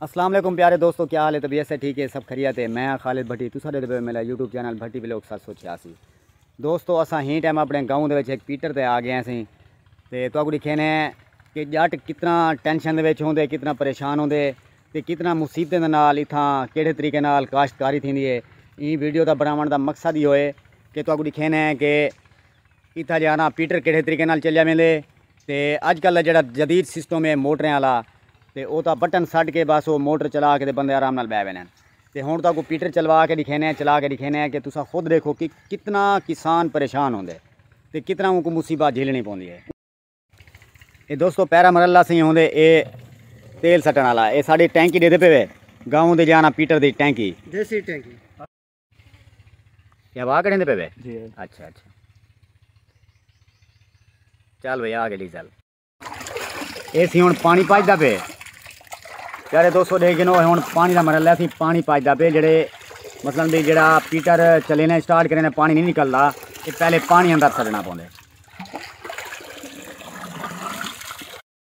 السلام علیکم پیارے دوستو کیا حال ہے طبیعت سے ٹھیک ہے سب خریت ہے میں خالد بھٹی تو سارے دبے میرا یوٹیوب چینل بھٹی بلوک سات سو چھیاسی دوستو اساں ہی ٹائم اپنے گاؤں دے وچ ایک پیٹر تے آ گئے ہیں سی تے تو کو دکھے نے کہ جٹ کتنا ٹینشن دے وچ ہوندے کتنا پریشان ہوندے تے کتنا مصیبتیں دے نال اتھاں کیڑے طریقے نال کاشتکاری تھیندی ہے این ویڈیو دا بناون دا مقصد ہی ہوئے کہ تو کو دکھے نے کہ اتھاں جے آنا پیٹر کیڑھے طریقے نال چلیا ویندے تے اج کل دا جیڑھا جدید سسٹم اے موٹریں آلا تے او تاں بٹن سٹ کے بس او موٹر چلا کے تے بندے آرام نال بہہ ویندن تے ہن تہاکوں پیٹر چلوا کے ڈکھینے آں چلا کے ڈکھینے آں کہ تساں خود ڈیکھو کہ کتنا کسان پریشان ہوندے تے کتنا اونکوں مصیبات جھیلنی پوندی اے۔ اے دوستو پیرا مرلہ سئیں ہوندے اے تیل سٹن آلا اے ساڈی ٹینکی ڈیدے پے وے گاؤں دے جے آنا پیٹر دی ٹینکی۔ دیسی ٹینکی۔ یہ ہوا کڑھیں دے پہ بے جی اچھا اچھا چل بھئی آگے ڈیزل اے سی ہن پانی پاج دا پہ یارے دو سو دے گنو ہن پانی دا مرحلہ سی پانی پاج دا پہ جڑے مثلا بھی جڑا پیٹر چلے نے سٹارٹ کرے نے پانی نہیں نکلدا اے پہلے پانی اندر سڑنا پوندے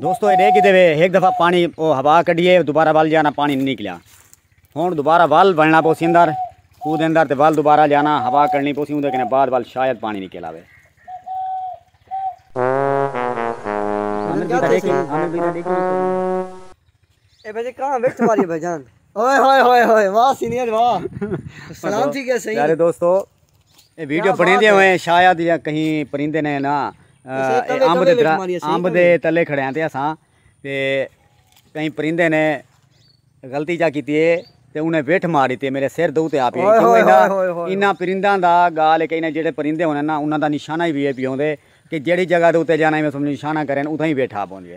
دوستو اے ڈے کیتے وے ایک دفعہ پانی او ہوا کڈیے دوبارہ ول جانا پانی نہیں نکلیا ہن دوبارہ ول بننا پوسی اندر کو دے اندر تے ول دوبارہ جانا ہوا کڈنی پوسی اون دے کنے بعد ول شاید پانی نکل آوے ہاں میں دیکھا دیکھا دیکھا اے بھجے کہاں ویٹھ ماری بھجان اوئے ہوئے ہوئے ہوئے واہ سینئر واہ سلام تھی گیا صحیح یارے دوستو اے ویڈیو بنی دے ہوئے شاید یا کہیں پرندے نے نا آمب دے درا آمب دے تلے کھڑے ہیں تے اساں تے کہیں پرندے نے غلطی جا کیتی ہے تے انہیں ویٹھ مار دیتی ہے میرے سر دو تے آپ ہی انہاں پرندہ دا گال ہے کہ انہیں جیڑے پرندے ہونے نا انہاں دا نشانہ ہی بھی ہے پیوں دے کہ جیڑی جگہ دو تے جانا ہی میں سمجھ نشانہ کریں اتھا ہی ویٹھ آپ ہونے